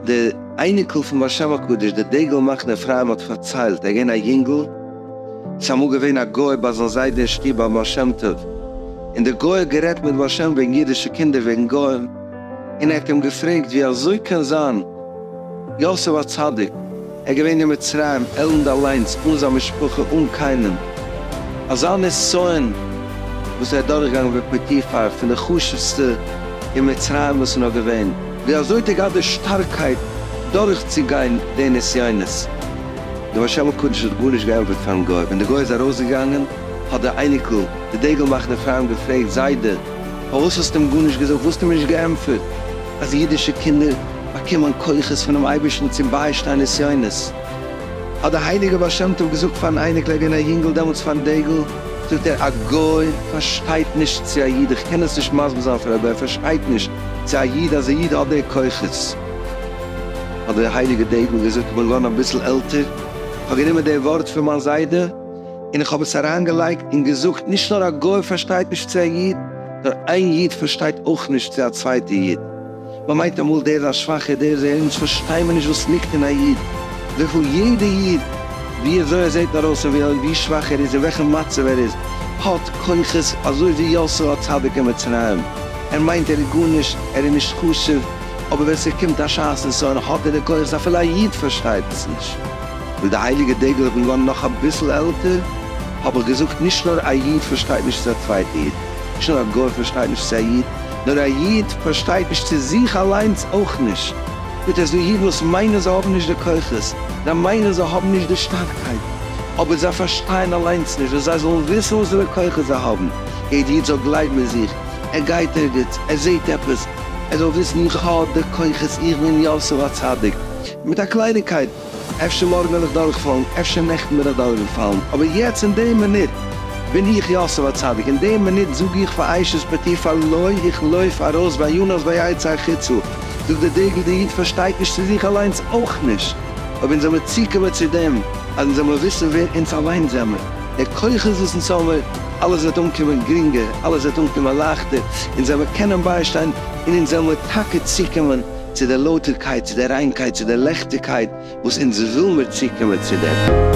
די אייניקל פון בר שם הקדוש, דער דגל מחנה אפרים האט פארציילט, ער איז געווען א יונגל, ס'איז אמאל געווען א גוי ביי זיין זיידע אין שטוב ביי בר שם טוב, און דער גוי האט גערעדט מיט בר שם וועגן אידישע קינדער וועגן גוים, און ער האט אים געפרעגט ווי אזוי קען זיין יוסף הצדיק, ער איז געווען אין מצרים, עלנד אליינס, אן זיין משפחה, אן קיינעם. אזא נסיון וואס ער איז דורכגעגאנגען ווי פוטיפר, פון די חשוב'סטע אין מצרים וואס איז נאר געווען. ווי אזוי האט ער געהאט די שטארקייט דורכצוגיין די נסיונות? דער בר שם הקדוש האט גארנישט געענטפערט פארן גוי. ווען דער גוי איז ארויסגעגאנגען, האט דער אייניקל, דער דגל מאכער אפרים געפרעגט, זיידע, פארוואס האסטו אים גארנישט געזאגט? וואלסטו מיר נישט געענטפערט אז אידישע קינדער. באקומען כוחות פונעם אייבערשטן צו ביישטיין נסיונות. האט דער הייליגער בעל שם טוב געזאגט פארן אייניקל, ער איז געווען א יונגל דעמאלטס פארן דגל, זאגט ער, א גוי פארשטייט נישט צו א איד, איך קען עס נישט מסביר זיין פאר א גוי, ער פארשטייט נישט צו א איד אז א איד האט די כוחות. האט דער הייליגער דגל געזאגט, איך בין געווארן אביסל עלטער, איך האב גענומען די ווארט פון מיין זיידע און איך האב עס אריינגעלייגט און געזאגט, נישט נאר א גוי פארשטייט נישט צו א איד, נאר איין איד פארשטייט אויך נישט צו א צווייטע איד. מען מיינט אמאל דער איז א שוואכער, דער איז דער, אונז פארשטיי מיר נישט וואס ליגט אין א איד, וויפיל יעדע איד, ווי אזוי ער זעט ארויס און ווי שוואך ער איז, אין וועלכע מצב ער איז, האט כוחות, אזוי ווי יוסף הצדיק אין מצרים, ער מיינט ער איז גארנישט, ער איז נישט חשוב, אבער ווען ס'קומט א שעת נסיון האט ער די כוחות, אפילו א איד פארשטייט עס נישט. ווי די הייליגע דגל האט מען געווארן נאך אביסל עלטער, האב איך געזאגט, נישט נאר א איד פארשטייט נישט צו א צווייטע איד, נישט נאר א גוי פארשטייט נישט צו א איד, נאר א איד פארשטייט נישט צו זיך אליינס אויך נישט, גוט איז דא אידן וואס מיינען זיי האבן נישט די כוחות, זיי מיינען זיי האבן נישט די שטארקייט, אבער זיי פארשטייען אליינס נישט, און זיי זאלן וויסן וואסערע כוחות זיי האבן, יעדע איד זאל גלייבן אין זיך, ער גייט ערגעץ, ער זעהט עפעס, ער זאל וויסן איך האב די כוחות, איך בין יוסף הצדיק, מיט א קלייניגקייט. אפשר מארגן וועל איך דורכפאלן, אפשר נעכטן בין איך דורכגעפאלן, אבער יעצט אין די מינוט בין איך יוסף הצדיק, אין די מינוט זאג איך פאר עישת פתי פאר לוי, איך לויף ארויס וינוס ויצא החוצה, זאגט דער דגל, דער איד פארשטייט נישט צו זיך אליינס אויך נישט, אויב אונז זעמער צוקומען צו דעם אז אונז זעמער וויסן ווער אונז אליינס זעמער, די כוחות וואס אונז האמער, אלעס וועט אנקומען גרינגער, אלעס וועט אנקומען לייכטער, אונז זעמער קענען ביישטיין, און אונז זעמער טאקע צוקומען. צו דער לויטערקייט, צו דער ריינקייט, צו דער לעכטיגקייט וואס אונז וויל מיר צוקומען צו דעם.